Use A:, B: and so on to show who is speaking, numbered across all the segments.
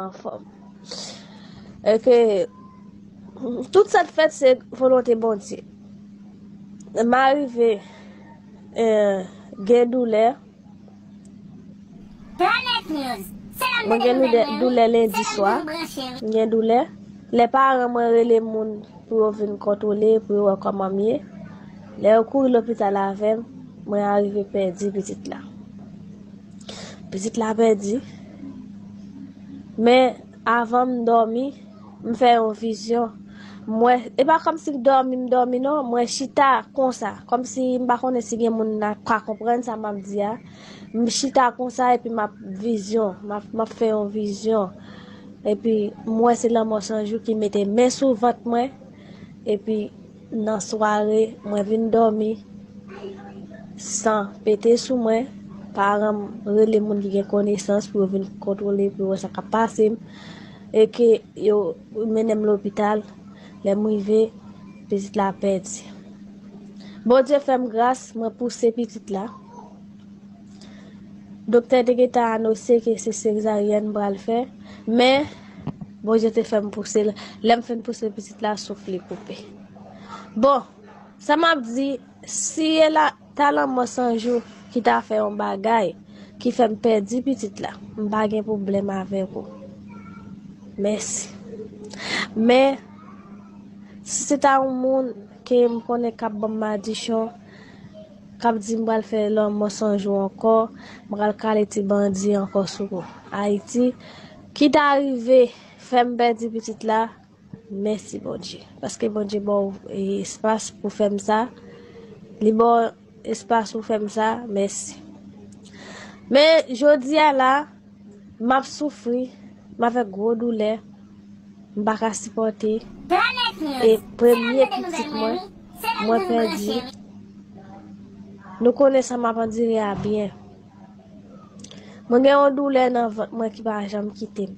A: Anfòm. E ke tout sa k fèt se volonte Bondye. M arive gen doulè. Mwen gen doulè lendi swa. M gen doulè. Lè paran mwen rele moun pou yo vin kontwole, pou yo wè kòman m ye. Lè yo kouri lopital avè m, mwen arive pèdi pitit la. Pitit la pèdi. Men, avan m dòmi, m fè yon vizyon. M wè, e pa kòm si m dòmi, m dòmi non, mwen chita konsa, kòm si m pa konnen si gen moun nan k ka konprann sa m ap di a. M chita konsa epi m ap vizyon, m ap fè yon vizyon. Epi, m wè se lanmò sanjou ki mete men sou vant mwen, epi. Nan sware mwen vin dòmi san pete sou mwen, paran m rele moun ki gen konesans pou yo vin kontwole pou yo wè sa k ap pase m e ke yo mennen m lopital. Lè m rive, pitit la pèdi. Bondye fè m gras, mwen pouse pitit la. Doktè te gentan anose ke se sezaryèn m pral fè men. Bondye te fè m pouse l. Lè m fin pouse pitit la, souf li koupe. Bon, sa m ap di, si e la, ta lanmò Sanjou ki ta fè yon bagay ki fè m pèdi pitit la, m pa gen pwoblèm avèk ou. Mèsi. Men, si se ta yon moun ke m konnen k ap ban m madichon, k ap di m pral fè lanmò Sanjou ankò, m pral kale ti bandi ankò sou Ayiti, Ki ta rive fèm pèdi pitit la mèsi Bondye paske Bondye baw espas pou fèm sa li baw espas pou fèm sa mèsi men jodia la map soufri map fè gwo doulè mpaka sipòte e premye pitit mwen mwen pèdi nou konnen sa map andire a byen. Mwen gen yon doulè nan vant mwen ki pa janm kite m.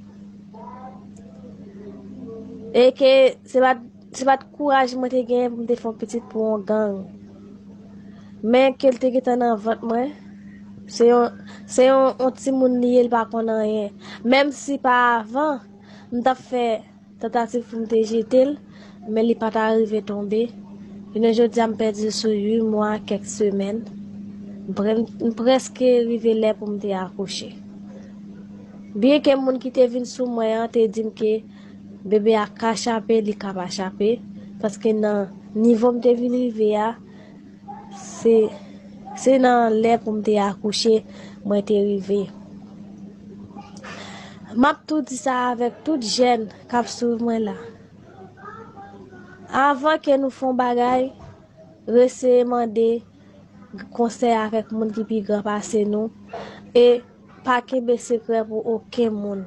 A: E ke se pat se pat kouraj mwen te genyen pou m te fè yon pitit pou yon gang. Men ke l te gentan nan vant mwen, se yon se yon yon timoun li ye l pa konn anyen. Menm si pa avan m t ap fè Tantativ pou m te jete l, men li pa ta rive tonbe. Jounen jodi a m pèdi l sou 8 mwa ak kèk semèn. M prèske rive lè pou m te akouche. Byenke moun ki te vin sou mwen an te di m ke bebe a ka chape, li ka pa chape, paske nan nivo m te vin rive a, Se Se nan lè pou m te akouche mwen te rive. M ap tou di sa avèk tout jèn k ap swiv mwen la. Avan ke nou fon bagay, reseye mande konsèy avèk moun ki pi gran pase nou e pa kenbe sekrè pou oken moun.